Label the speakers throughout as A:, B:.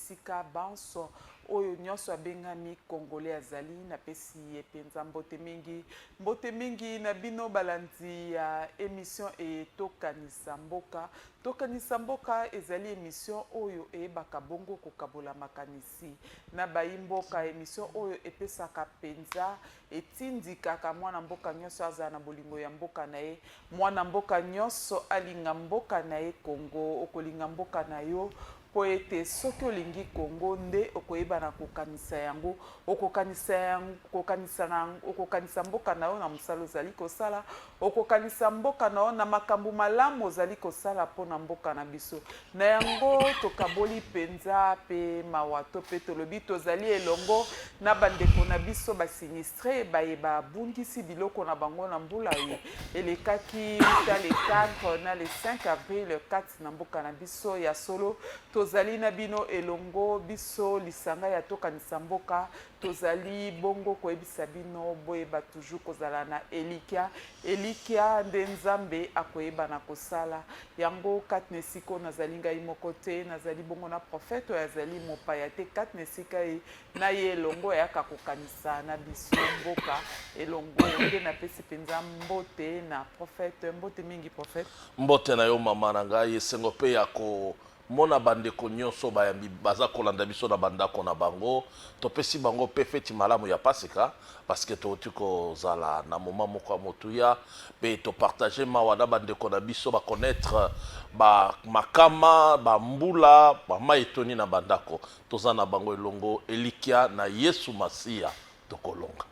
A: bisika banso. Oyo nionso abengami congolais azali, napesi ye penza mbote mingi. Mbote mingi na bino balandi ya emission eye Tokanisa Mboka. Tokanisa Mboka ezali emission oyo eyebaka bongo kokabola makanisi na bayi mboka. Emission oyo epesaka penza, etindikaka mwana mboka nionso azala na bolingo ya mboka na ye. Mwana mboka nionso alinga mboka na ye Congo. Okolinga mboka na yo? Mpo ete soki olingi Congo nde okoyeba na kokanisa yango, okokanisa yango, okokanisa na, okokanisa mboka na yo na mosala ozali kosala, okokanisa mboka na yo na makambo malamu ozali kosala mpo na mboka na biso. Na yango tokaboli mpenza mpe mawa to mpe tolobi tozali elongo na bandeko na biso ba sinistre baye babungisi biloko na bango na mbula ye elekaki uta le 4 na le 5 avril 4 na mboka na biso ya solo tozali na bino elongo biso lisanga ya tokanisa mboka tozali bongo koyebisa bino boyeba toujours kozala na elikya elikya nde nzambe akoyeba na kosala yango katna esika nazali ngai moko te nazali bongo na profete oyo azali mopaya te katna esika ye na ye elongo ayaka kokanisa na biso mboka elongo nde napesi mpenza mbote na prophète mbote mingi prophète mbote na yo
B: mama na ngai esengo mpe ya ko mona bandeko nyonso bayambi baza kolanda biso na bandako na bango topesi bango mpe feti malamu ya pasika parceke touti kozala na moma moko ya motuya mpe topartage mawa na bandeko na biso bakonetre bamakama bambula bamai etoni na bandako Toza na bango elongo, elikya na Yesu Masiya, tokolonga.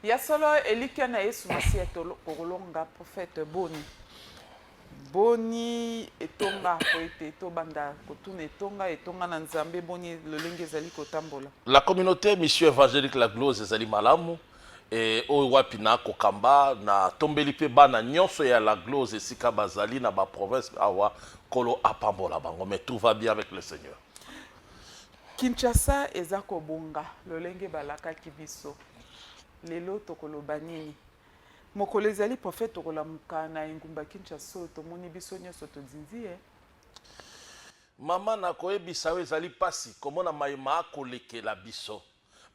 B: Ya solo,
A: elikya na Yesu Masiya, tokolonga. Prophète, boni? Boni etonga po ete tobanda kotuna etonga, etonga na Nzambe, boni lolenge ezali kotambola? La communauté
B: Mission Evangelique La Glose ezali malamu. Eh, oyo wapi na kokamba na tombeli mpe bana nyonso ya la glose esika bazali na ba province awa kolo apambola bango mais tout va bien avec le seigneur Kinshasa
A: eza kobonga lolenge balakaki biso. Lelo tokoloba nini? Mokolo ezali prophète tokolamuka na engumba Kinshasa oyo tomoni biso nionso todindi ye.
B: Mama nakoyebisa yo ezali pasi komona maye maa kolekela biso.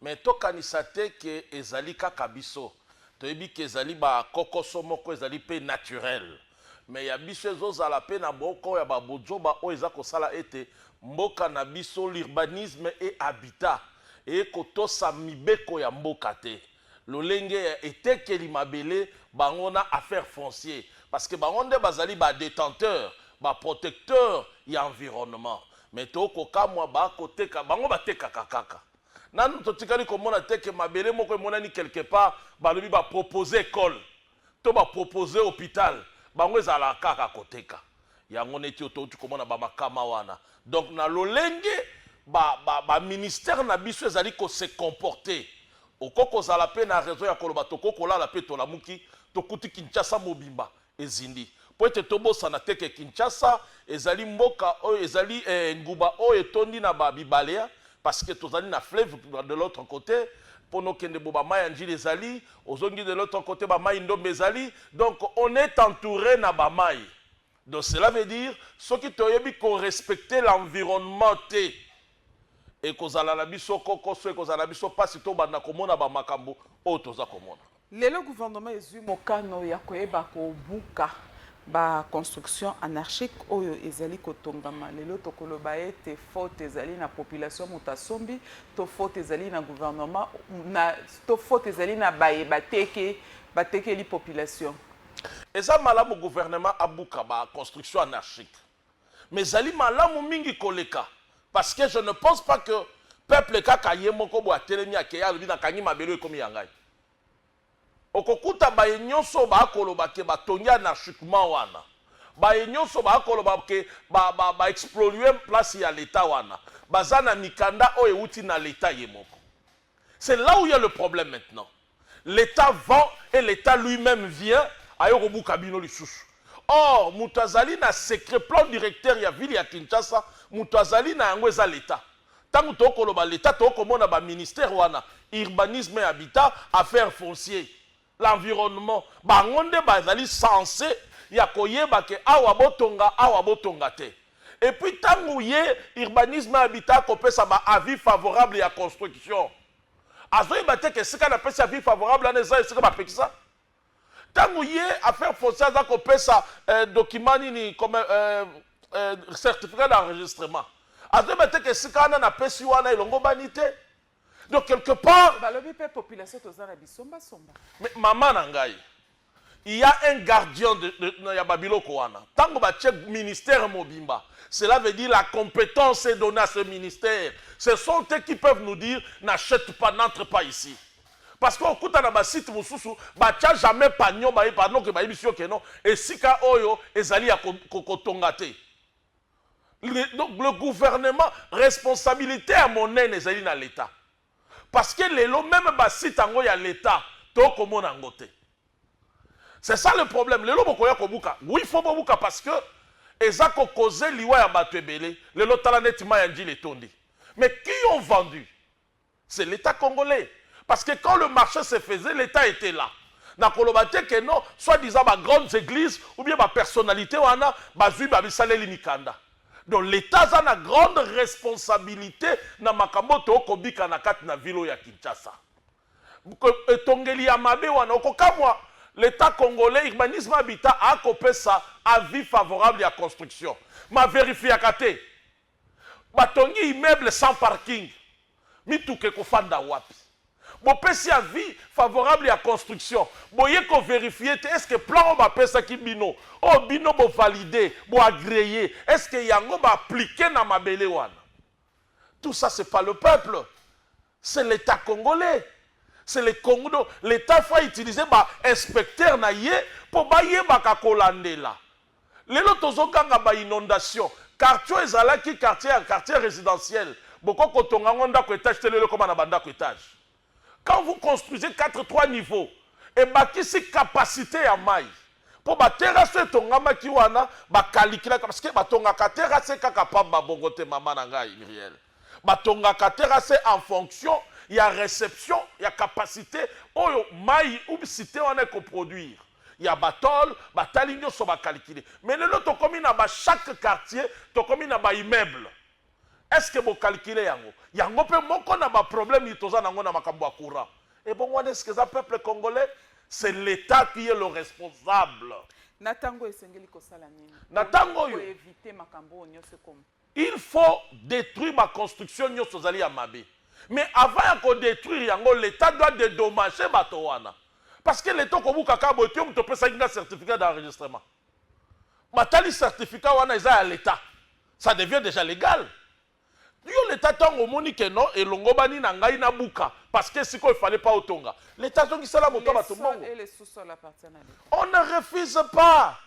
B: Mais to kanisa te que ezali kaka biso. Toyebi que ezali ba kokoso moko ezali pe naturel. Mais ya biso ezo zala pe na boko ya ba bozoba oyo eza ko sala ete mboka na biso l'urbanisme et habitat eye ko tosa mibeko ya mboka te. lolenge ya etekeli mabele bango na affaires fonciers parce que bango nde bazali ba detenteurs ba protecteurs ya environnement mais to kokamwa ba koteka bango batekaka kaka nanu totikali komona te que mabele moko emonani quelque part balobi ba proposer ecole to ba propose hopital bango ezalaka kaka koteka yango neti oyo touti komona bamakama wana donc na lolenge baministère ba, ba na biso ezali kose comporte okoki kozala mpe na raison ya koloba tokoki kolala mpe tolamuki tokuti kinshasa mobimba ezindi Mpo ete tobosana te ke Kinshasa ezali mboka oyo ezali eh, nguba oyo etondi na ba bibale hein, parce que tozali na fleuve de l'autre cote mpo nokende bo ba mai ya Ndjili ezali, ozongi de l'autre cote ba mai Ndombe ezali, donc on est entoure na ba mai. Donc cela veut dire soki toyebi ko respecter l'environnement te, ekozala na biso kokoso, ekozala na biso mpasi tobanda komona ba makambo oyo toza komona. Lelo gouvernement
A: ezui mokano ya koyeba kobuka ba construction anarchique oyo ezali kotongama lelo tokoloba ete faute ezali na population moto asombi to faute ezali na gouvernement na, to faute ezali na baye bateke batekeli population eza
B: malamu gouvernement abuka ba construction anarchique mais ezali malamu mingi koleka parce que je ne pense pas que peuple kaka ye moko bo atelemi akeyi alobi nakangi mabele oyo ekomi ya ngai okokuta baye nyonso baakoloba ke batongi anarchiquement wana baye nyonso baakoloba ke baexplolue ba, ba place ya leta wana baza na mikanda oyo euti na leta ye moko c'est là où il y a le problème maintenant L'etat vend et l'etat lui meme vient aye kobuka bino lisusu. Or moto azali na secret plan directeur ya ville ya Kinshasa moto azali na yango eza l'etat. Tango tokoki koloba l'etat tokoki komona ba ministères wana, urbanisme et habitat, affaires fonciers, l'environnement, bango nde bazali sense ya koyeba ke awa botonga awa botonga te. Et puis tango ye urbanisme et habitat akopesa ba avis favorables ya construction, Azoyeba te que esika na pesi avis favorable wana eza esika ba pekisa? Tango ye affaire foncière aza ko pesa eh, document nini comme eh, eh, certificat d'enregistrement. Azoyeba te que esika wana na pesi wana elongobani te. Donc quelque part. Balobi pe population
A: toza na bisomba somba. Mais maman na
B: ngai. Il ya un gardien de, de, de, ya babiloko wana. Tango batie ministère mobimba, cela veut dire la compétence est donnée à ce ministère. Ce sont eux qui peuvent nous dire n'achète pas, n'entre pas ici. Parce que okuta na basite mosusu batia jamais pagnon baye pardon ke bayebisi yo ke non esika oyo ezali ya kotonga ko, ko te le, donc le gouvernement responsabilité ya monene ezali na leta parce que lelo meme ba site yango ya l'etat to komona yango te c'est ça le problème lelo bokoya kobuka oui faut bobuka parce que eza ko cause liwa ya bato ebele lelo tala neti mai ya njili etondi mais qui ont vendu c'est l'État congolais. Parce que quand le marché se faisait, l'État était là. na koloba te ke non soit disant ba grandes églises ou bien ba personnalité wana bazwi ba bisaleli mikanda Donc l'etat aza na grande responsabilite na makambo oyo to kobika na kati na ville oyo ya Kinshasa. Etongeli ya mabe wana okokamwa l'etat congolais urbanisme habitat a kopesa avis favorable ya construction ma verifiaka te batongi immeuble sans parking Mituka ekofanda wapi? Bopesi avis favorable ya construction boye ko verifier te est ce que plan oyo bapesaki bino oyo bino bo valider bo agreer est ce que yango ba appliquer na mabele wana? Tout ça c'est pas le peuple c'est l'etat congolais c'est le congo donc l'etat faut a utiliser ba inspecteurs na ye mpo bayebaka kolandela Lelo tozo ganga ba inondation quartier oyo ezalaki quartier ya quartier residentiel boko kotonga yango ndaku etage te lelo ekoma na ba ndaku etage quand vous construisez 4 3 niveau ebakisi capacite ya mayi po ba terrasse oyo etongamaki wana ba caliclaka parce que batongaka terrasse kaka pamba bongo te mama na ngai Mirielle batongaka terrasse en fonction ya reception ya capacite oyo mayi ou cite wana eko produire ya ba tol batali nioso ba calcule mais lelo tokomi na ba chaque quartier tokomi na ba immeuble est ce que bo calcule yango yango pe moko na ba problème toza na yango na makambo ya courant ebongo wana est ce que eza peuple congolais c'est l'etat qui est le responsable na tango
A: esengeli kosala nini na tango oyo
B: éviter makambo oyo
A: nioso ekoma Il faut
B: detruire ba construction nioso ezali ya mabe mais avant ya ko detruire yango l'etat doit dedommager bato wana parce que l'etat okobuka kaka boye te yo moto opesaki nga certificat d'enregistrement batali certificat wana eza ya l'etat ça devient dejà legal yo l'etat tango omoni que non elongobani na ngai na buka parce que sikoyo il fallait pas otonga l'etat zongisela moto ya bato mbongo
A: on ne refuse
B: pas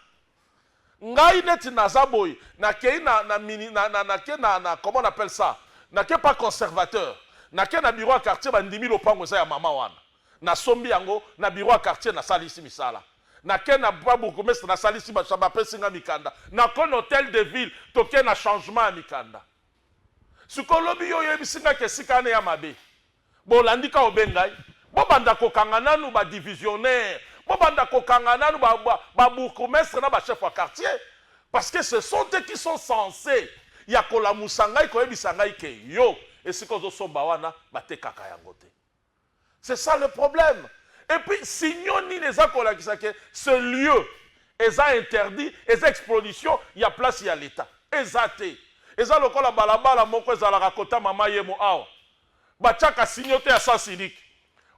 B: Ngai neti naza boye nakei na na mini na na nake na na comment on appelle ça nake pas conservateur nake na bureau ya quartier ba ndimi lopango eza ya maman wana na sombi yango na bureau ya quartier na salisi misala nake na ba bourgoumestre na salisi ba ba pesi nga mikanda nako na hotel de ville toke na changement ya mikanda sikoyo lobi yo oyebisi nga ke esika wana ea mabe Bolandi ka obe ngai? Bobanda kokanga nanu ba divisionnaires, bobanda kokanga nanu ba ba bourgoumestres na ba chefs ya quartiers parce que ce sont eux qui sont senses ya kolamusa ngai, koyebisa ngai que yo esika ozo somba wana batekaka yango te. C'est ça le problème. Et puis signaux nini eza kolakisa que ce lieu eza interdit, eza exposition ya place ya l'Etat? Eza te. Eza lokola balabala moko ezalaka kota mama yemo awa. Batiaka signote ya sens unique.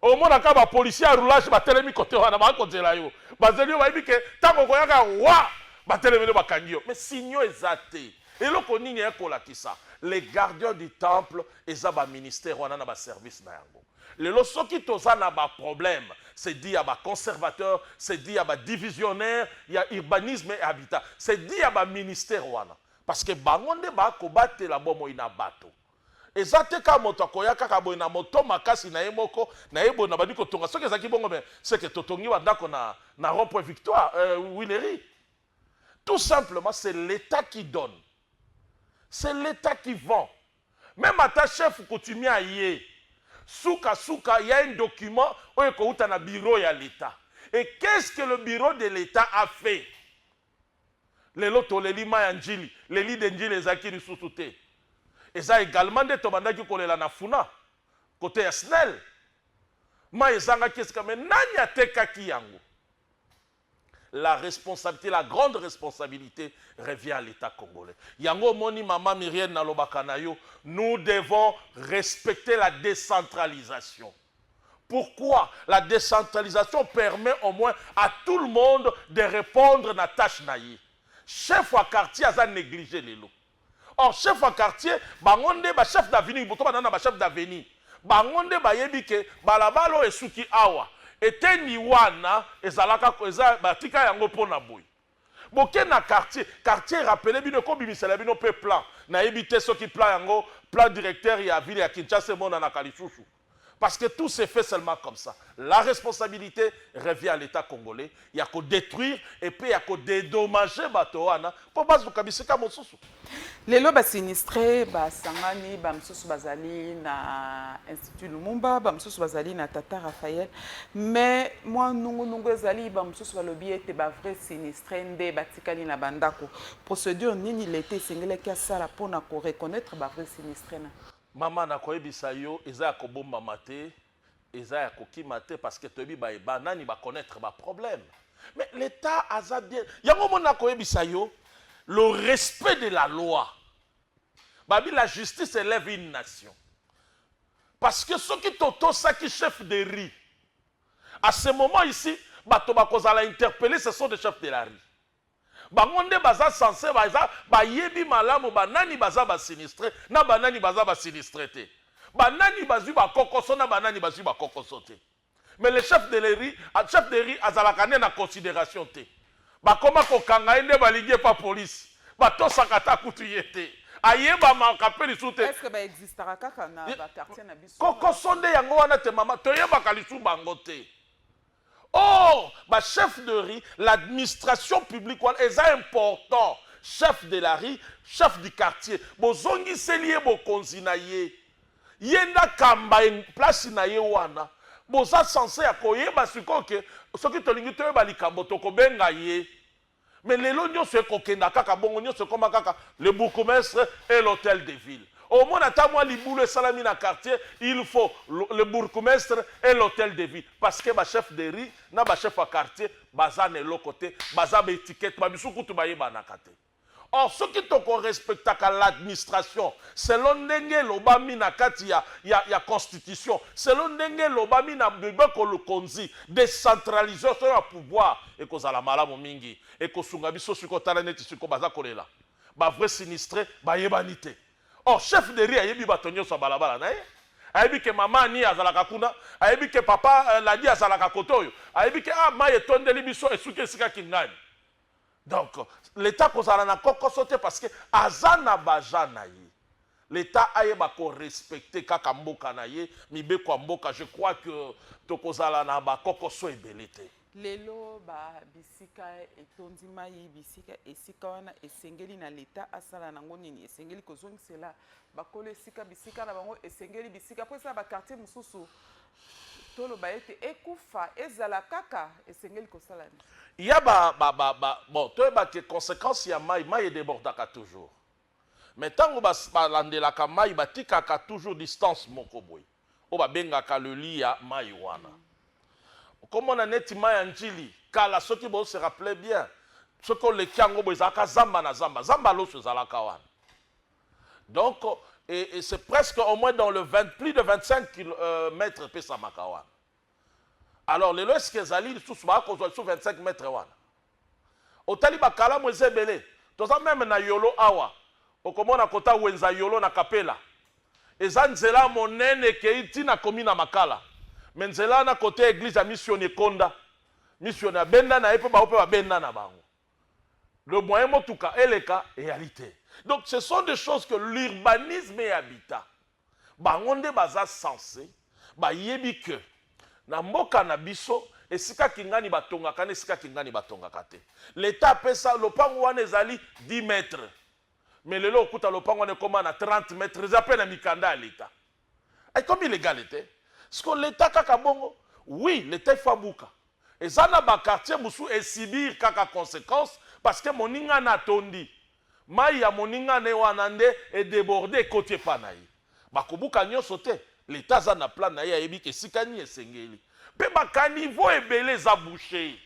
B: Omonaka ba policiers ya roulage batelemi cote wana baza kozela yo. Bazeli yo bayebi que tango okoyaka wa! Batelemeli yo bakangi yo. Mais signaux eza te. Eloko nini aya kolakisa? Les gardiens du temple eza ba ministères wana na ba services na yango. Lelo soki toza na ba problèmes, c'est dit ya ba conservateurs, c'est dit ya ba divisionnaires ya urbanisme et habitat, c'est dit ya ba ministères wana. Parce que bango nde ba kobatela bomoi na bato. Eza te kaka moto akoya kaka boye na moto makasi na ye moko na ye boye na bandi kotonga soki ezalaki bongo mais seke totongi ba ndako na na rond point victoire euh, winerie tout simplement c'est l'etat qui donne c'est l'etat qui vend meme ata chef coutumier aye suka suka ya un document oyo ekouta na bureau ya l'etat et qu'est-ce que le bureau de l'etat a fait Lelo toleli mayi ya Ndjili, le lit de Ndjili ezalaki lisusu te. Eza egalement nde tobandaki kolela na Funa, cote ya Snel. Mayi ezangaki esika mais nani atekaki yango? La responsabilite, la grande responsabilite revient à l'Etat congolais. Yango omoni mama Myriel nalobaka na yo, nous devons respecter la decentralisation. Pourquoi la decentralisation permet au moins à tout le monde de repondre na tache na ye? Chef ya quartier aza neglige lelo. Or chef ya quartier bango nde ba chef d'avenue bo toba na ba chef d'avenue. Bango nde bayebi ke balabala oyo esuki awa. Eteni wana ezalaka eza batika yango pona boye. Boke na quartier, quartier rappeler bino eko bimisela bino pe plan. Nayebi te soki plan yango plan directeur ya ville ya Kinshasa emonanaka lisusu. Parce que tout se fait seulement comme ça. La responsabilite revient à l'Etat congolais ya ko detruire et puis ya ko dedommager bato wana po bazuka bisika mosusu. Lelo ba
A: sinistres basangani, bamosusu bazali na Institut Lumumba, bamosusu bazali na Tata Raphael, mais mwa nungunungu ezali, bamosusu balobi ete ba vrai sinistres nde batikali na bandako. Procedure nini Leta esengelaki asala mpo na ko reconnaitre ba vrai sinistres na. Mama nakoyebisa
B: yo eza ya kobombama te Eza ya kokima te parce que toyebi baye ba nani ba connaître ba problème. Mais l'Etat aza bien. Yango mona nakoyebisa yo le respect de la loi. Babi la justice élève une nation. Parce que ceux qui totosaki chef de riz à ce moment ici bato bakozala interpellé ce sont des chefs de la rue Bango nde baza sense baza bayebi malamu ba nani baza ba sinistre na ba nani baza ba sinistre te. Ba nani bazwi ba kokoso na ba nani bazwi ba kokoso te. Mais le chef de le riz, chef de riz azalaka nde na consideration te. Bakoma kokanga ye nde balingi ye pa police. Batosaka ata kutu ye te. Ayebamaka mpe lisusu te. Est-ce que ba existaka
A: kaka na ba quartiers na biso? Kokoso nde yango wana
B: te mama. Toyebaka lisusu bango te. Or ba chef de ris l'admistration publique wana eza important chef de la ris chef du quartier bozongiseli ye bokonzi na ye ye nde akamba place na ye wana boza sense ya koyeba sikoyo ke soki tolingi toyeba likambo tokobenga ye Mais lelo nionso eko kenda kaka bongo nionso ekoma kaka le bourgoumestre et l'hotel de ville omona ata mwa libulu esalami na quartier il faut le bourgoumestre et l'hotel de ville parce que ba chef de rue na ba chef ya quartier baza na eloko te baza ba etiquette ba misusu kutu ba yebanaka te or soki toko respectaka l'administration selon ndenge elobami na kati ya ya ya constitution selon ndenge elobami na mibeko lokonzi decentralisation ya pouvoir Ekozala malamu mingi. Ekosunga biso sikoyo tala neti sikoyo baza kolela. Ba vrais sinistres bayebani te. Or chef de rue ayebi bato nionso ya balabala naye. Ayebi ke mama Annie azalaka kuna. Ayebi ke papa Ladi azalaka kote oyo. Ayebi ke ah mayi etondeli biso esuki esika Kingani. Donc l'etat akozala na kokoso te parce que aza na ba gens naye. L'etat ayeba ko respecter kaka mboka na ye, mibeko ya mboka, je crois que toko zala na ba kokoso ebele te. Lelo ba
A: bisika etondi mayi, bisika esika wana esengeli na l'etat asala nango nini? Esengeli ko zongisela bakolo esika bisika na bango, esengeli bisika po eza na ba quartier mosusu toloba ete ekufa ezala kaka esengeli kosala nini? Ya ba ba
B: ba ba bon toyeba ke consequence ya mayi, mayi e debordaka toujours. Mais tango ba balandelaka mayi batikaka toujours distance moko boye oyo babengaka le lit ya mayi wana okomona neti mayi ya ndjili kala soki bo se rappeler bien soki oleki yango boye ezalaka zamba na zamba zamba loso ezalaka wana donc et, et c'est presque au moins dans le 20, plus de 25 km euh, epesamaka wana alors lelo esika ezali lisusu baya kozwa lisusu 25 mètre wana otali bakalamu eza ebele toza meme na yolo awa okomona kota wenza yolo na kapela eza nzela monene ekei ti na komi na makala me nzela na kote ya eglise ya misioni ekonda misioni abenda na ye mpe bango mpe babenda na bango le moyen motuka eleka eyali te donc ce sont des choses que l'urbanisme et habitat bango nde baza sense bayebi que na mboka na biso esika kingani batongaka na esika kingani batongaka te leta apesa lopango wana ezali 10 mètre mais lelo okuta lopango wana ekoma na 30 mètre eza mpe na mikanda ya leta Ekomi illegale te. Siko l'etat kaka bongo? Oui l'etat il faut abuka. Eza na ba quartiers mosusu e subir kaka consequences parce que moninga na atondi. Mayi ya moninga ne wana nde e deborder ekoti epa na ye. Ba kobuka nionso te. L'etat aza na plan na ye ayebi esika nini esengeli. Pe ba caniveaux ebele eza boucher.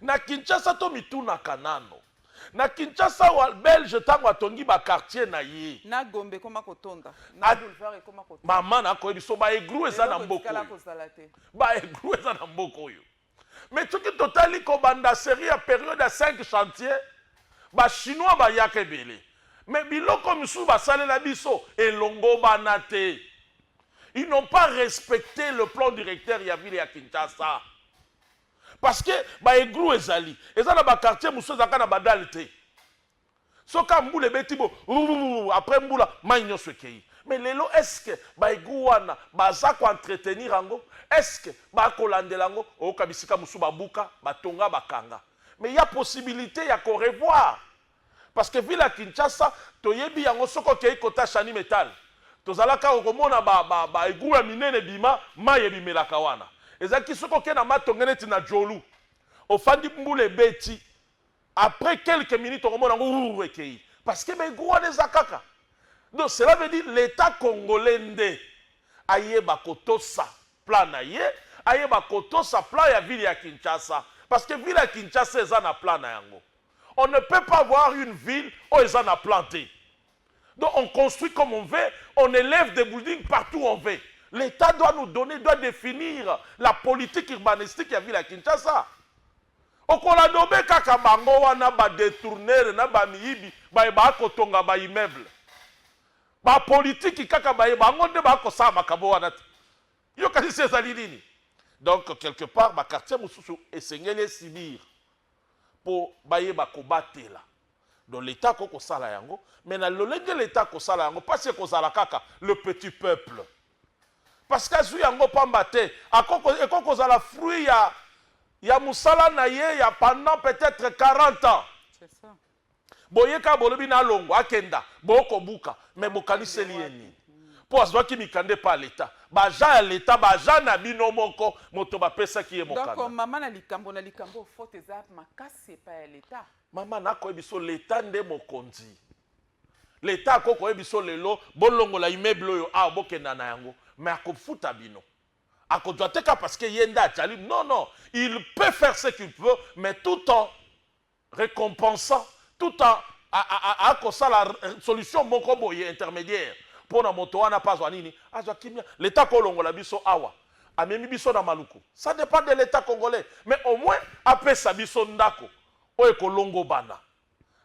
B: Na Kinshasa to mitunaka nano. Na Kinshasa awa belge tango atongi ba quartier na ye. Na Gombe ekoma
A: kotonda. Na boulevard ekoma kotonda. Maman na ko yebiso ba
B: eglou eza na mboka oyo. Eloko etikala kozala te. Ba eglou eza na mboka oyo. Mais soki totali kobanda serie ya periode ya cinq chantiers ba chinois bayaka ebele mais biloko misusu basalela biso elongobana te. Ils n'ont pas respecte le plan directeur ya ville ya Kinshasa. Parce que ba eglou ezali eza na ba quartier mosusu ezalaka na ba dale te so ka mbula ebeti bo rurururu après mbula mai nyonso ekei mais lelo est ce que ba eglou wana baza ko entretenir yango est ce que bakolandela yango oyoka bisika mosusu babuka batonga bakanga mais ya possibilite ya ko revoir Parce que ville ya Kinshasa toyebi yango soki okeyi kota Shani Metal tozala kaka komona ba ba ba egout ya minene ebima mayi ebimelaka wana ezalaki soki oke na matonge neti na Djolu ofandi mbula ebeti après quelques minutes okomona yango wurr ekeyi parce que ba egout wana eza kaka donc cela veut dire l'etat congolais nde ayeba kotosa plan na ye ayeba kotosa plan ya ville ya Kinshasa parce que ville ya Kinshasa eza na plan na yango. On ne peut pas avoir une ville oyo eza na plan te. Donc on construit comme on veut, on elève des buildings partout où on veut. L'Etat doit nous donner, doit definir la politique urbanistique ya ville ya Kinshasa. Okoladobe kaka bango wana ba detourneurs na ba miyibi baye ba kotonga ba immeubles. Ba politiki kaka baye bango nde ba kosala makambo wana te. Yo kasi ezali nini? Donc quelque part ba quartiers mosusu esengeli e subir mpo bayeba kobatela donc l'etat akoki kosala yango mais na lolenge l'etat akosala yango mpasi ekozala kaka le petit peuple parce que azwi yango pamba te ekoki kozala fruit ya ya mosala na ye ya pendant peut-être 40 ans
A: boye kaka
B: bolobi na alongwa akenda boko buka me bokaniseli ye nini mpo azwaki mikanda epa leta baja ya leta baja na bino moko moto bapesaki ye mokanda mama na likambo na
A: likambo fote eza makasi epa ya leta mama nakoyebi so
B: leta nde mokonzi leta ako koyebi so lelo bolongola immeuble oyo awa bokenda na yango me akofuta bino akozwa te ka parce que ye nde ajali non non il peut faire ce qu'il peut mais tout temps recompensant tout en akosala solution moko boye intermediaire mpo na moto wana mpe azwa nini azwa kimia leta kolongola biso awa amemi biso na maluku ça dépend de l'etat congolais mais au moins apesa biso ndako oyo ekolongobana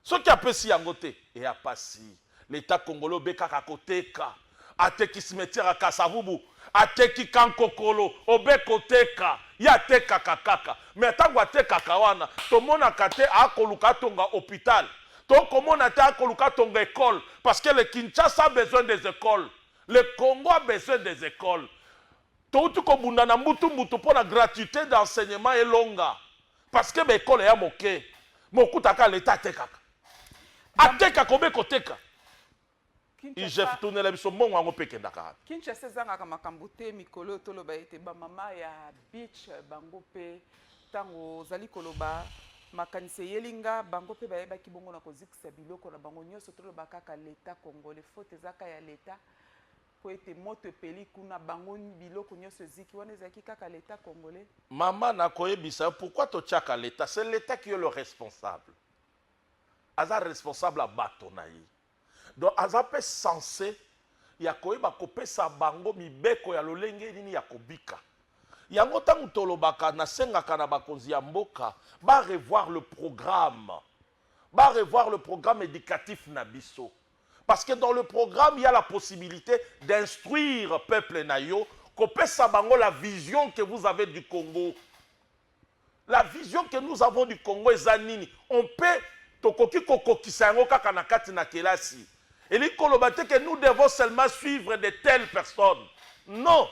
B: soki apesi yango te eya pasi L'etat congolais obekaka koteka ateki cimetière ya kasavubu ateki kankokolo obe koteka ye atekaka kaka mais atango atekaka wana tomonaka te akoluka atonga hopital to komona te akoluka atonga ecole parce que le kinshasa besoin des ecoles le congo a besoin des ecoles touti kobunda na mbutu mbutu mpo na gratuite d'enseignement elonga parce que ba ecole ya moke mokutaka l'etat atekaka ateka akobe koteka igf tunela biso
A: mbongo yango mpe kendaka wapi kinshasa ezangaka makambo te mikolo oyo toloba ete bamama ya beach bango mpe ntango ozali koloba makanisi eyeli nga bango mpe bayebaki bongo na kozikisa biloko na bango nyonso toloba kaka leta congolais faute ezaka ya leta mpo ete moto epeli kuna bango biloko nyonso eziki wana ezalaki kaka leta congolais mama nakoyebisa
B: yo pourkui totyaka leta se leta ki yo le responsable aza responsable ya bato na ye donc aza mpe sense ya koyeba kopesa bango mibeko ya lolenge nini ya kobika yango ntango tolobaka nasengaka na bakonzi ya mboka ba revoir le programme ba revoir le programme éducatif na biso parce que dans le programme il y a la possibilité d'instruire peuple na yo kopesa bango la vision que vous avez du congo La vision que nous avons du Congo eza nini? On peut tokoki kokokisa yango kaka na kati na kelasi. Elingi koloba te que nous devons seulement suivre de telles personnes. Non.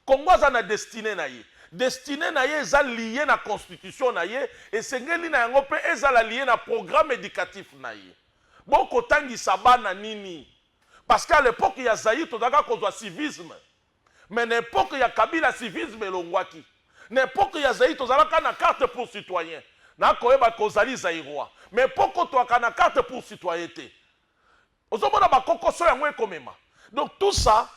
B: Congo aza na destinée na ye. Destinée na ye eza liée na constitution na ye, esengeli na yango mpe ezala liée na programme educatif na ye. Bokotangisa bana nini? Parce qu'à l'époque ya Zaïre tozalaka kozwa civisme. Mais na epoque ya Kabila civisme elongwaki. Na epoque ya Zaïre tozalaka na carte pour citoyen. Na koyeba que ozali Zaïrois. Mais epoque oyo toaka na carte pour citoyen te. Ozo mona ba kokoso yango eko mema. Donc tout ça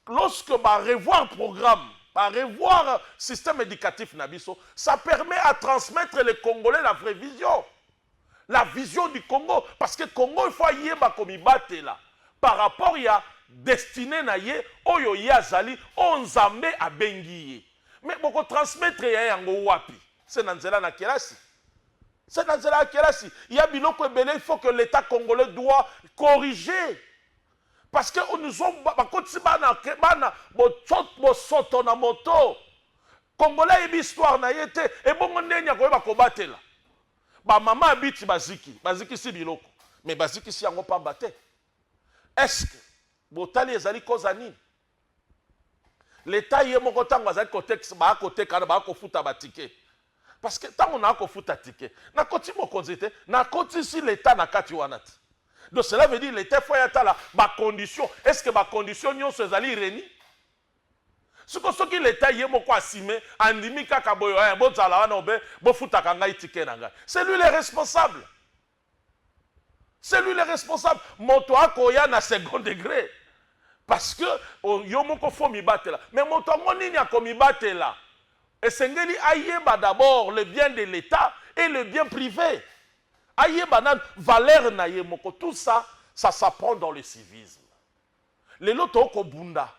B: lorsque ba revoir programme, ba revoir système educatif na biso, ça permet à transmettre les congolais la vraie vision. la vision du Congo parce que Congo il faut ayeba komibatela par rapport ya destine na ye oyo ye azali oyo Nzambe abengi ye mais boko transmettre ya yango wapi se na nzela na kelasi se na nzela ya kelasi ya biloko ebele il faut que l'etat congolais doit corriger parce que nous ont bakotisi bana bana bosoto na moto congolais ayebi histoire na ye te ebongo ndeni akoyeba kobatela Ba mama ya biti baziki bazikisi biloko mais bazikisi yango pamba te est ce que botali ezali koza nini leta ye moko ntango azali kotekisa baa koteka na baa kofuta batike parce que ntango naa kofuta tike nakoti mokonzi te nakotisi leta na kati wana te donc cela veut dire leta efo yatala bacondition est ce que bacondition nyonso ezali reni Sikoyo soki l'etat ye moko asime andimi kaka boye eh bozala wana obe bofutaka ngai ticket na ngai c'est lui le responsable c'est lui le responsable moto akoya na second degre parce que oh, yo moko fo mibatela mais moto yango nini akomibatela esengeli ayeba d'abord le bien de l'etat et le bien privé ayeba nanu valeur na ye moko tout ça ça s'apprend dans le civisme Lelo to ko bunda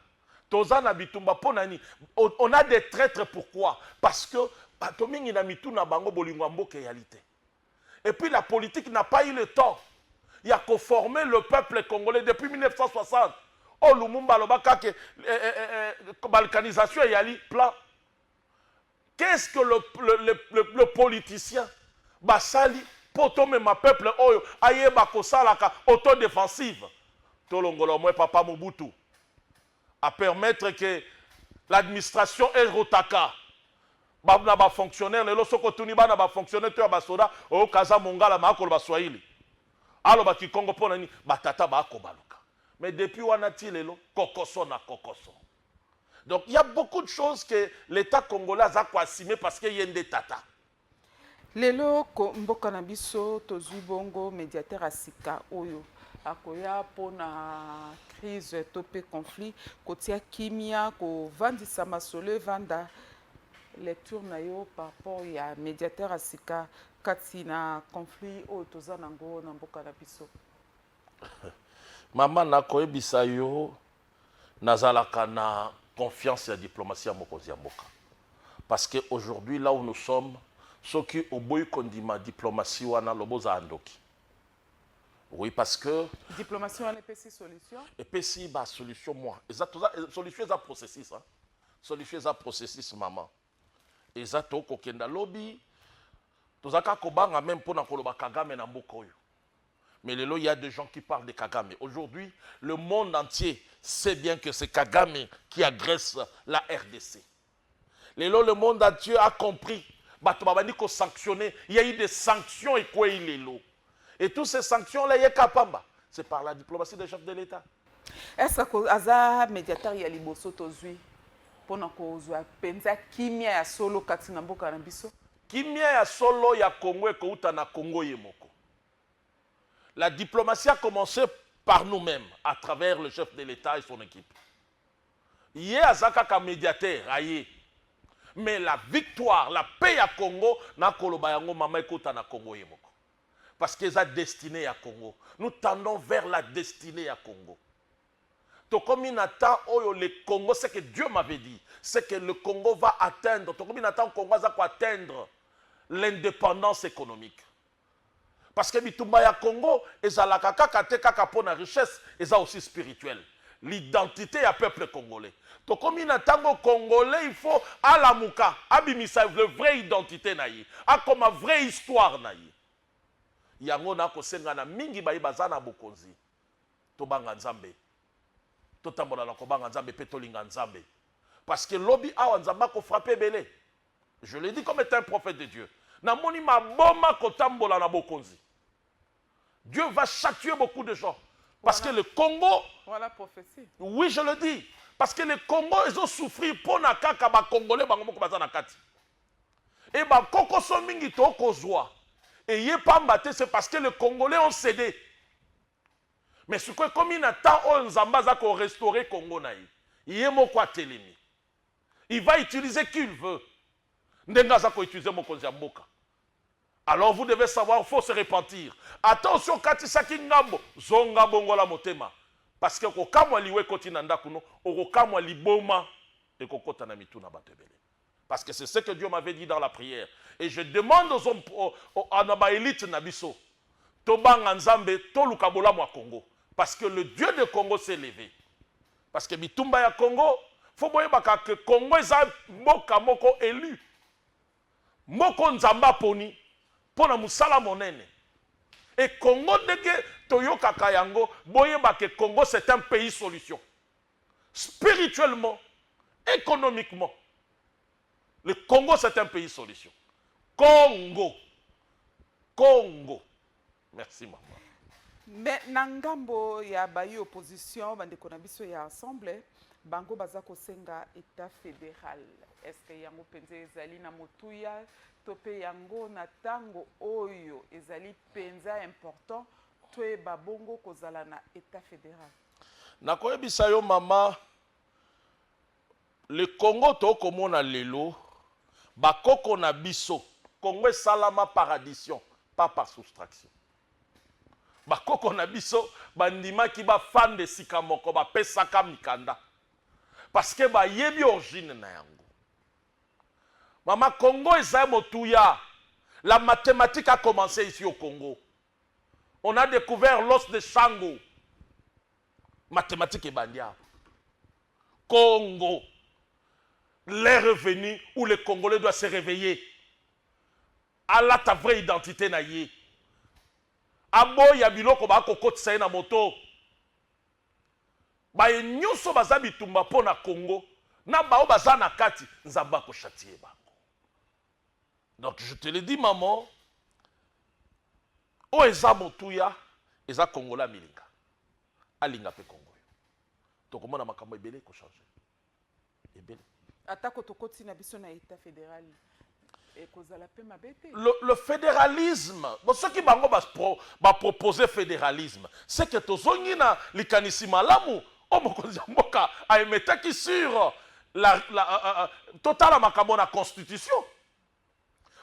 B: toza na bitumba mpo na nini? On a des traitres pourquoi? Parce que bato mingi na mitu na bango bolingo ya mboka eyali te. Et puis la politique n'a pas eu le temps ya ko former le peuple congolais depuis 1960 oyo Lumumba alobaka ke eh, eh, eh, eh balkanisation eyali plan Qu'est ce que le, le, le, le, le politicien basali mpo tomema peuple oyo ayeba kosalaka autodefensive tolongola omwe papa mobutu a permettre que l'administration erotaka ba, na bafonctionnaire lelo soki otuni bana bafonctionnaire to ya basoda oyoka aza mongala ma akoloba swahili aloba kikongo mpo na nini batata baakobaluka mais depuis wana ti lelo kokoso na kokoso Donc il y a beaucoup de choses que l'État congolais a assumer parce que yende tata. Lelo
A: ko mboka na biso tozui bongo médiateur à sika oyo akoya mpo na crise to mpe conflit kotia kimia kovandisa masolo evanda lecture na yo par rapport ya médiateur ya sika kati na conflit oyo toza nango na mboka na biso
B: mama nakoyebisa yo Nazalaka na confiance ya diplomatie ya mokonzi ya mboka parce que aujourd'hui là où nous sommes soki oboyi kondima diplomatie wana loba ozala ndoki oui parce que diplomatie wana epesi
A: solution epesi ba
B: solution mwa eza toza solution eza processus hein? solution eza processus maman eza toko kenda lobi toza kaka kobanga meme pona koloba kagame na mboka oyo mais lelo il y a des gens qui parlent de kagame aujourd'hui le monde entier sait bien que c'est kagame qui agresse la rdc lelo le monde entier a compris bato babandi kosanctionne ya i de sanction ekwei lelo et tous ces sanctions là ye ka pamba c'est par la diplomatie des chefs de l'État est-ce que ako-
A: aza mediateur ya liboso tozwi mpo na kozwa mpenza kimia ya solo kati na mboka na biso kimia ya
B: solo ya Congo ekouta na Congo ye moko la diplomatie a commencé par nous-mêmes à travers le chef de l'État et son équipe Ye aza kaka mediateur aye mais la victoire la paix ya Congo na koloba yango mama ekota na Congo ye moko parce que eza destine ya Congo nous tendons vers la destine ya Congo tokomi na temps oyo le Congo c'est que Dieu m'avait dit c'est que le Congo va atteindre tokomi na temps Congo aza ko atteindre l'indépendance économique Parce que bitumba ya Congo ezalaka kaka te kaka pona richesse, eza aussi spirituel. L'identite ya peuple congolais. Tokomi na tango congolais il faut alamuka, abimisa le vrai identite na ye, akoma vrai histoire na ye. Yango na kosenga na mingi baye baza na bokonzi, tobanga Nzambe, totambola na kobanga Nzambe pe tolinga Nzambe. Parce que lobi awa Nzambe ako frapper ebele. Je le dis comme est un prophète de Dieu. Namoni maboma kotambola na bokonzi. Dieu va châtier beaucoup de gens. Parce voilà. que le Congo... Voilà prophétie.
A: Oui, je le dis.
B: Parce que le Congo, ils ont souffert pour na kaka ba Congolais bango moko baza na kati. Et ba koko so mingi to kozwa. Et yé pamba te c'est parce que les Congolais ont cédé. Mais ce que comme il a temps on zamba za ko restaurer Congo na yé. Yé moko atelemi. il va utiliser qui il veut ndenge aza ko utiliser mokonzi ya mboka alors vous devez savoir faut se repentir ata osi okatisaki ngambo zonga bongola motema parce que kokamwa liwa ekoti na ndako no okokamwa liboma ekokota na mitu na bato ebele parce que c'est ce que Dieu m'avait dit dans la prière et je demande aux hommes aux, aux, à na ba elite na biso tobanga nzambe toluka bolamu ya Congo parce que le Dieu de Congo s'est levé Parce que bitumba ya Congo, faut boyebaka que Congo eza mboka moko elu. Moko Nzambe aponi mpo na mosala monene. Et Congo ndenge toyokaka yango, boyeba que Congo c'est un pays solution. Spirituellement, économiquement, le Congo c'est un pays solution. Congo. Congo. Merci maman. Me
A: na ngambo ya bayi opposition bandeko na biso ya ensemble bango baza kosenga etat fédéral est-ce que yango mpenza ezali na motuya to mpe yango na ntango oyo ezali mpenza important toyeba bongo kozala na etat fédéral nakoyebisa
B: yo mama Le Congo to komona lelo ba koko na biso Congo esalama par addition pas par soustraction ba koko na biso ba ndimaki ba fanda esika moko ba pesaka mikanda parce que ba yebi origine na yango mama Congo eza motuya la mathematique a commence ici au Congo on a decouvert l'os de Shango Mathématique ebandi awa. Congo, l'heure est venue où le Congolais doit se réveiller. Alata vraie identité na ye. Aboya biloko ba kokotisa ye na moto. Baye nyoso baza bitumba mpo na Congo na bao baza na kati, Nzambe ako chatier bango. donc je te le dis maman oyo eza motuya eza kongola amilinga alinga mpe kongo yo tokomona makambo ebele ekochange ebele atako
A: tokoti na biso na etat fédéral ekozala mpe mabe te le,
B: le fédéralisme bo soki bango bapropose ba fédéralisme seke tozongi na likanisi malamu Oyo mokonzi ya mboka a emetaki sur la, la, uh, uh, uh, totala makambo na constitution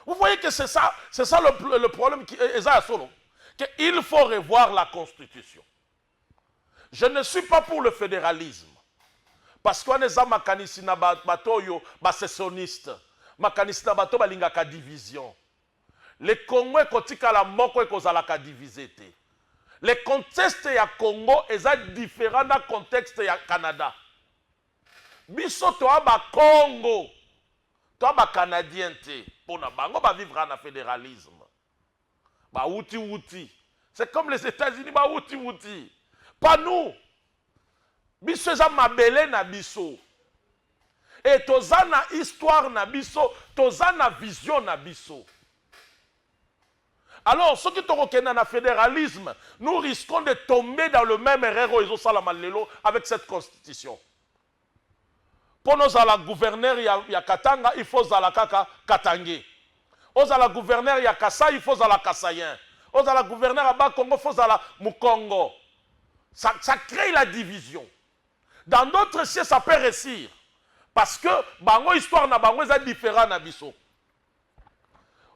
B: vous voyez que c'est ça c'est ça le, le problème qui est ça solo que il faut revoir la constitution je ne suis pas pour le fédéralisme parce qu'on est makanisi na bato oyo basessioniste makanisi na bato balingaka division Le Congo ekotikala moko ekozalaka divise te. Le conteste ya Congo eza different na contexte ya Canada. Biso toa ba Kongo toa ba Canadiens te pona bango ba vivra na federalisme. Ba wuti wuti. C'est comme les Etats-Unis ba wuti wuti. Pas nous. Biso eza mabele na biso et toza na histoire na biso, toza na vision na biso. Alors soki tokokenda na federalisme, nous risquons de tomber dans le meme erreur oyo ezosalama lelo avec cette constitution. Pona ozala gouverneur ya ya katanga il faut ozala kaka katangais ozala gouverneur ya kasai il faut ozala kasaien ozala gouverneur ya bas congo il faut ozala mukongo ça ça cree la division dans d'autres cieux ça peut reussir parce que bango histoire na bango eza different na biso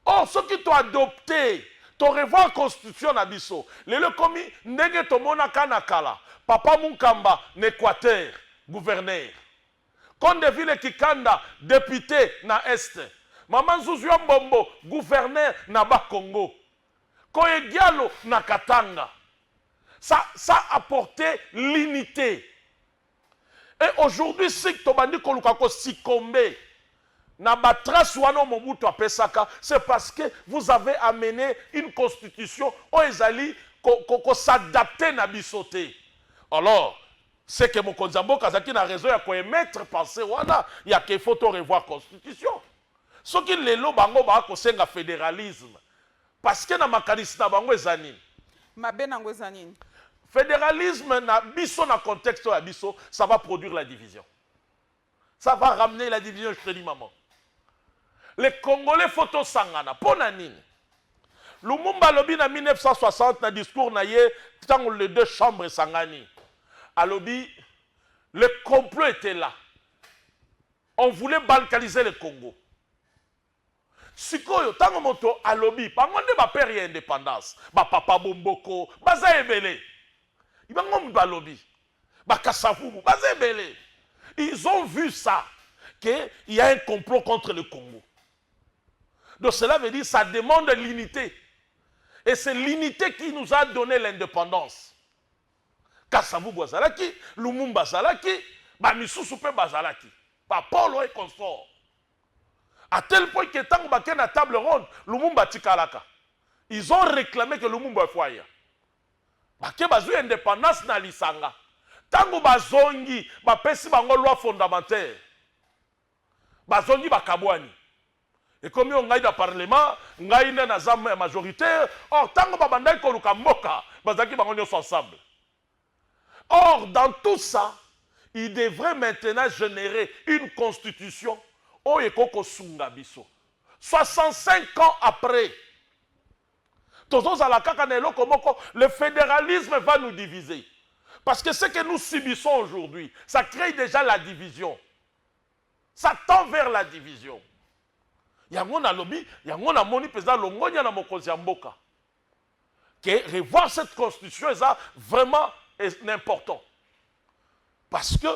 B: Or soki to adopte to revoir constitution na biso lelo ekomi ndenge tomonaka na kala papa Munkamba na Equateur gouverneur, Condeville Kikanda depute na Est, mama Nzuzu ya Mbombo gouverneur na Bas Congo, Koye Diallo na Katanga ça ça apporte l'unite. Et aujourd'hui si tobandi koluka ko succomber na ba traces wana oyo Mobutu apesaka, c'est parce que vous avez amene une constitution oyo ezali ko s'adapter na biso te. Alors, c'est que mokonzi ya mboka azalaki na raison ya ko emettre pensee wana ya que il faut to revoir constitution. Soki lelo bango baakosenga federalisme, Parce que na makanisi na bango eza nini? Mabe nango eza nini? Federalisme na biso na contexte oyo ya biso ça va produire la division. Ça va ramener la division je te dis maman. Les Congolais faut tosangana mpo na nini? Lumumba alobi na 1960 na discours na ye ntango les deux chambres esangani alobi le complot était là on voulait balkaniser le Congo Sikoyo tango moto alobi bango nde ba père ya independance ba papa bomboko baza ebele bango mutu balobi ba kasavubu baza ebele ils ont vu ça que il ya un complot contre le Congo donc cela veut dire ça demande l'unité et c'est l'unité qui nous a donné l'independance kasavubu azalaki lumumba azalaki ba misusu pe bazalaki ba polo et consort A tel point que tango bake na table ronde, Lumumba atikalaka. Ils ont reclame que Lumumba il faut aya. Bake bazui independance na lisanga. Tango bazongi, bapesi bango loi fondamentaire. Bazongi bakabuani. Ekomi oyo ngai na parlement, ngai nde naza majoritaire. Or tango babandaki koluka mboka, bazalaki bango nionso ensemble. Or dans tout ça il devrait maintenant generer une constitution oyo ekoki kosunga biso 65 ans après tozo zala kaka na eloko moko le federalisme va nous diviser parce que ce que nous subissons aujourd'hui ça cree dejà la division ça tend vers la division yango nalobi yango namoni penza longonya na mokonzi ya mboka. que revoir cette constitution eza vraiment important parce que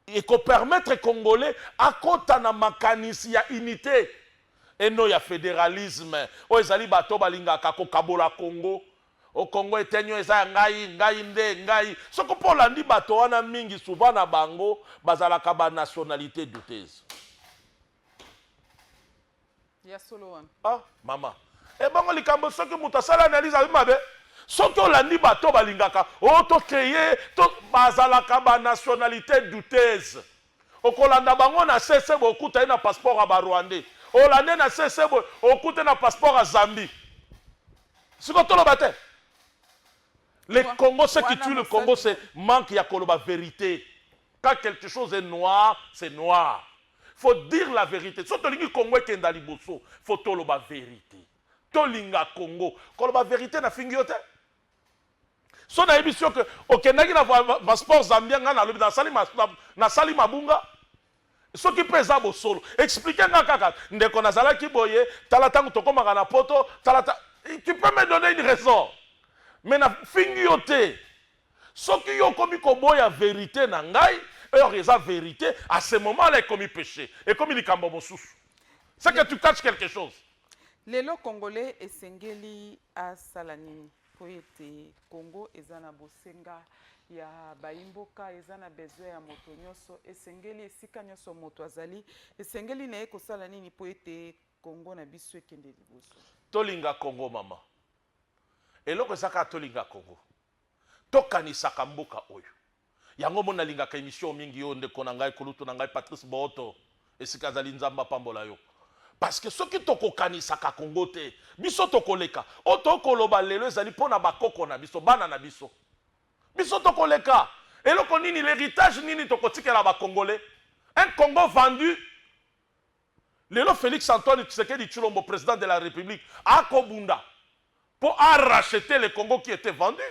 B: ekopermettre congolais akota na makanisi ya unité eno ya fédéralisme oyo ezali bato oyo balingaka kokabola congo o congo etenyo eza ya ngai ngai nde ngai soko mpo olandi bato wana mingi souvent na bango bazalaka banationalité douteuse
A: ya solo wana ah mama
B: ebongo eh, likambo soki moto asala analyse abi mabe soki olandi bato balingaka o oh, to créer to bazalaka ba nationalité douteuse okolanda bango na sese boye okuta ye na passeport ya barwandais olande na sese boye okute na passeport ya zambie siko toloba te le congo ce qui tue le congo c'est manque ya koloba verité Quand quelque chose est noir, c'est noir. Faut dire la verite. Soki tolingi Congo ekenda liboso, faut toloba verite. Tolinga Congo. Koloba verite na fingi yo te. So na yebisi yo que okendaki na passeport Zambien nga na lobi na sali na sali mabunga. soki mpe eza bosolo explike nga kaka ndeko nazalaki boye tala ntango tokomaka na poto tala ta... tu peux me donner une raison mais nafingi yo te Soki yo okomi koboya verite na ngai heure eza verite à ce moment là ekomi peche ekomi likambo mosusu c'est que tu caches quelque chose lelo
A: congolais esengeli asala nini mpo ete congo eza na bosenga ya bayimboka eza na besoin ya moto nyonso esengeli esika nyonso moto azali esengeli na ye kosala nini mpo ete kongo na biso ekende liboso tolinga kongo
B: mama eloko eza kaka tolinga kongo Tokanisaka mboka oyo. Yango omoni nalingaka emission mingi yo ndeko na ngai kulutu na ngai Patrice Booto esika azali Nzambe apambola yo. Parce que soki tokokanisaka Congo te biso tokoleka. Oyo tokoki koloba lelo ezali mpo na ba koko na biso, bana na biso. Biso tokoleka. Eloko nini l'heritage nini tokotikela ba congolais? Un Congo vendu Lelo Felix Antoine Tshisekedi Tshilombo president de la Republique ako bunda po a racheter le Congo qui etait vendu.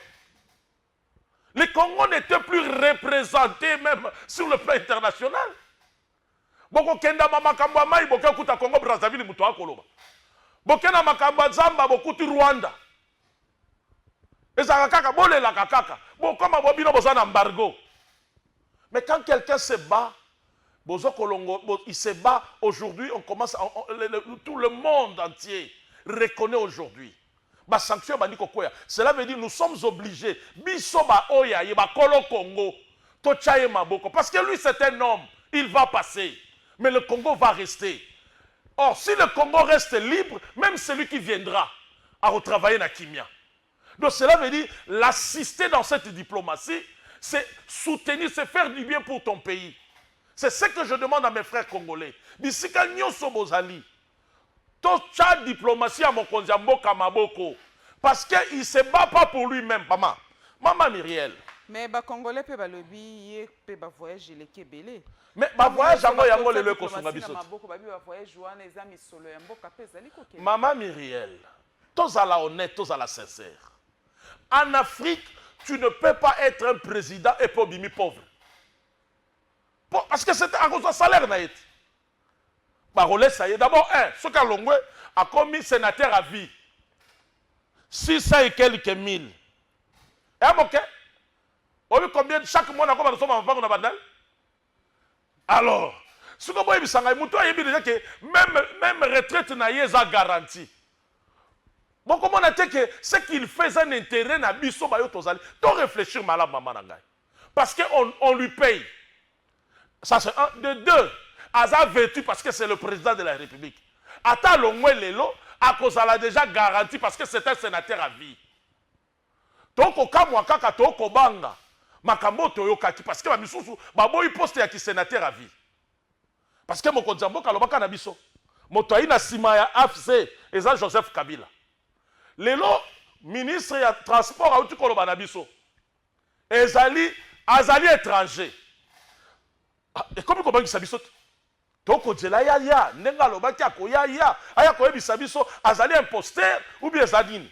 B: Le Congo n'etait plus represente meme sur le plan international. Boko kenda ma makambo ya mayi boke kuta Congo Brazzaville mutu ako loba. Boke na makambo ya zamba bokuti Rwanda. ezalaka kaka bolelaka kaka bokoma bo bino boza na embargo mais quand quelqu'un se bat bozo kolongo bo, il se bat aujourd'hui on commence on, on, le, le, tout le monde entier reconnaît aujourd'hui basanction ebandi kokwea cela veut dire nous sommes obligés biso baoyo ya ye bakolo congo totya ye maboko parce que lui c'est un homme il va passer mais le congo va rester Or si le Congo reste libre meme celui qui viendra ako travailler na kimia donc cela veut dire l'assister dans cette diplomatie c'est soutenir c'est faire du bien pour ton pays c'est ce que je demande à mes frères congolais bisika nionso bozali totya diplomatie ya mokonzi ya mboka maboko parce que il se bat pas pour lui meme mama mama Miriel Mais ba congolais
A: pe balobi ye pe ba voyage eleki ebele. Mais ba voyage
B: yango yango lelo ekosunga biso te. Maboko babi ba voyage wana eza misolo ya mboka pe ezali kokende. Mama Miriel, tozala honnête, tozala sincère. En Afrique, tu ne peux pas être un président et puis obimi pauvre. Parce que c'est à cause de salaire na ye. Ba relais ça y est d'abord un, ce qu'a longwe a commis sénateur à vie. 600 et quelques mille. Eh bon, Oyebi combien chaque mois nakoma nasomba mapango na bandal alors soki oboyebisa ngai motu ayebi deja ke meme, meme retraite na ye eza garantie bokomona te ke ce qu'il fait eza na interet na biso bayo tozali to réfléchir malamu mama na ngai parce que on, on lui paye ça c'est un de deux aza vêtu parce que c'est le président de la république ata alongwe lelo akozala deja garantie parce que c'est un sénateur à vie Tokokamwa kaka tokobanga makambo oyo toyokaki parce que ba misusu baboyi poste ya ki senateur à vie parce que mokonzi ya mboka alobaka na biso moto ayina sima ya afc eza Joseph Kabila lelo ministre ya transport auti koloba na biso ezali azali etranger ah, ekomi kobangisa biso te tokozela ya ya ndenge alobaki akoya ya aya koyebisa biso azali imposter ou bien eza nini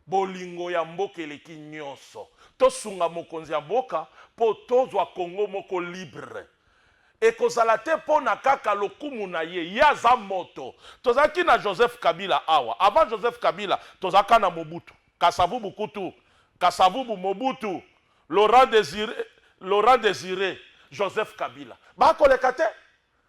B: Bolingo ya mboka eleki nionso. Tosunga mokonzi ya mboka po tozwa Congo moko libre. Ekozala te po na kaka lokumu na ye. Ye aza moto. Tozalaki na Joseph Kabila awa. Avant Joseph Kabila, tozalaka na Mobutu. Kasavubu kutu. Kasavubu, Mobutu, Laurent Desire, Laurent Desire, Joseph Kabila. Ba koleka te.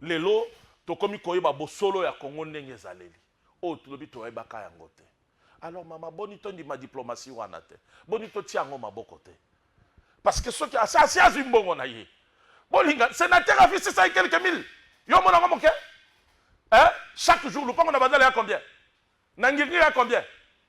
B: Lelo tokomi koyeba bosolo ya Congo ndenge ezaleli. Oyo tulobi toyebaka yango te. Alors mama boni tondima diplomatie wana te? Boni totia yango maboko te? Parce que soki asi asi azwi mbongo na ye. Bolinga sénateur afisi 600 et quelques mille. Yo omona yango moke? Hein? Chaque jour lupango na bandala ya combien? Na ngirngiri ya combien?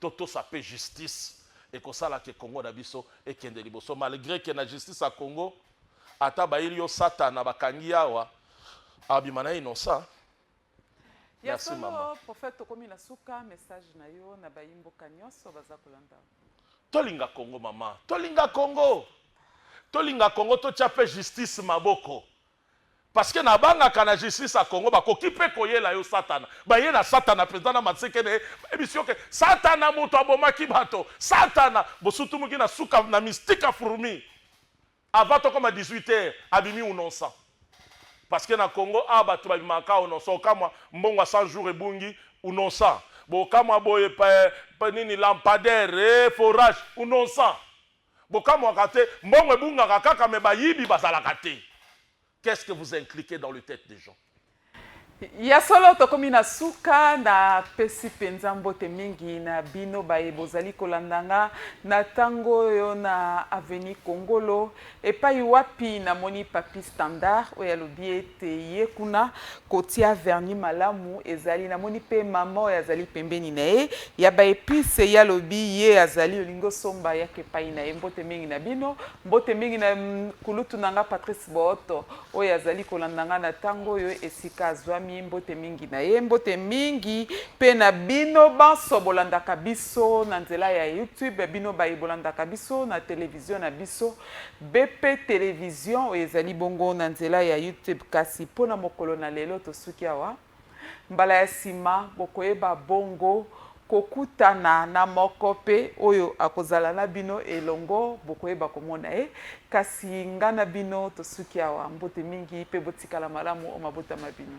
B: To tosa pe justice ekosala que Congo na biso ekende liboso malgre que na justice ya Congo ata bayili yo satana bakangi ye awa abima na innocent. Ya Merci solo maman. prophète tokomi na suka
A: message na yo na bayi mboka nionso baza kolanda yo. Tolinga
B: Congo maman, tolinga Congo, tolinga Congo, totia pe justice maboko. Parce que na bangaka na justice ya Congo ba koki pe ko yela yo satana. Ba yela satana penza na matseke na ye. Ba yebisi yo ke satana moto abomaki bato. Satana bo sutumuki na suka na mistika fourmi. Avant to koma 18 heures abimi unonsa. Parce que na Congo awa bato ba bimaka kaka unonsa. Okamwa mbongo ya 100 jours ebungi unonsa. Bo kamwa boye pe nini lampadaire, eh forage unonsa. Bokamwaka te, mbongo ebungaka kaka mais bayibi bazalaka te. Qu'est-ce que vous incliquez dans le tete des gens? Ya
A: solo tokomi na suka na pesi mpenza mbote mingi na bino baye bozali kolanda nga na ntango oyo na aveni kongolo epai wapi namoni papi standard oyo alobi ete te ye kuna kotia vernis malamu ezali namoni pe mama oyo azali pembeni na ye ya ba epice ye alobi ye azali olingi osomba yaka epai na ye mbote mingi na bino mbote mingi na mm, kulutu na nga patrice booto oyo azali kolanda nga na ntango oyo esika azwami mbote mingi na ye mbote mingi pe na bino banso bolandaka biso na nzela ya youtube bino baye bolandaka biso na televizio na biso BP television oyo ezali bongo na nzela ya YouTube kasi mpo na mokolo na lelo tosuki awa. Mbala ya sima bokoyeba bongo kokutana na moko mpe oyo akozala na bino elongo bokoyeba komona ye kasi nga na bino tosuki awa mbote mingi mpe botikala malamu o mabota ma bino.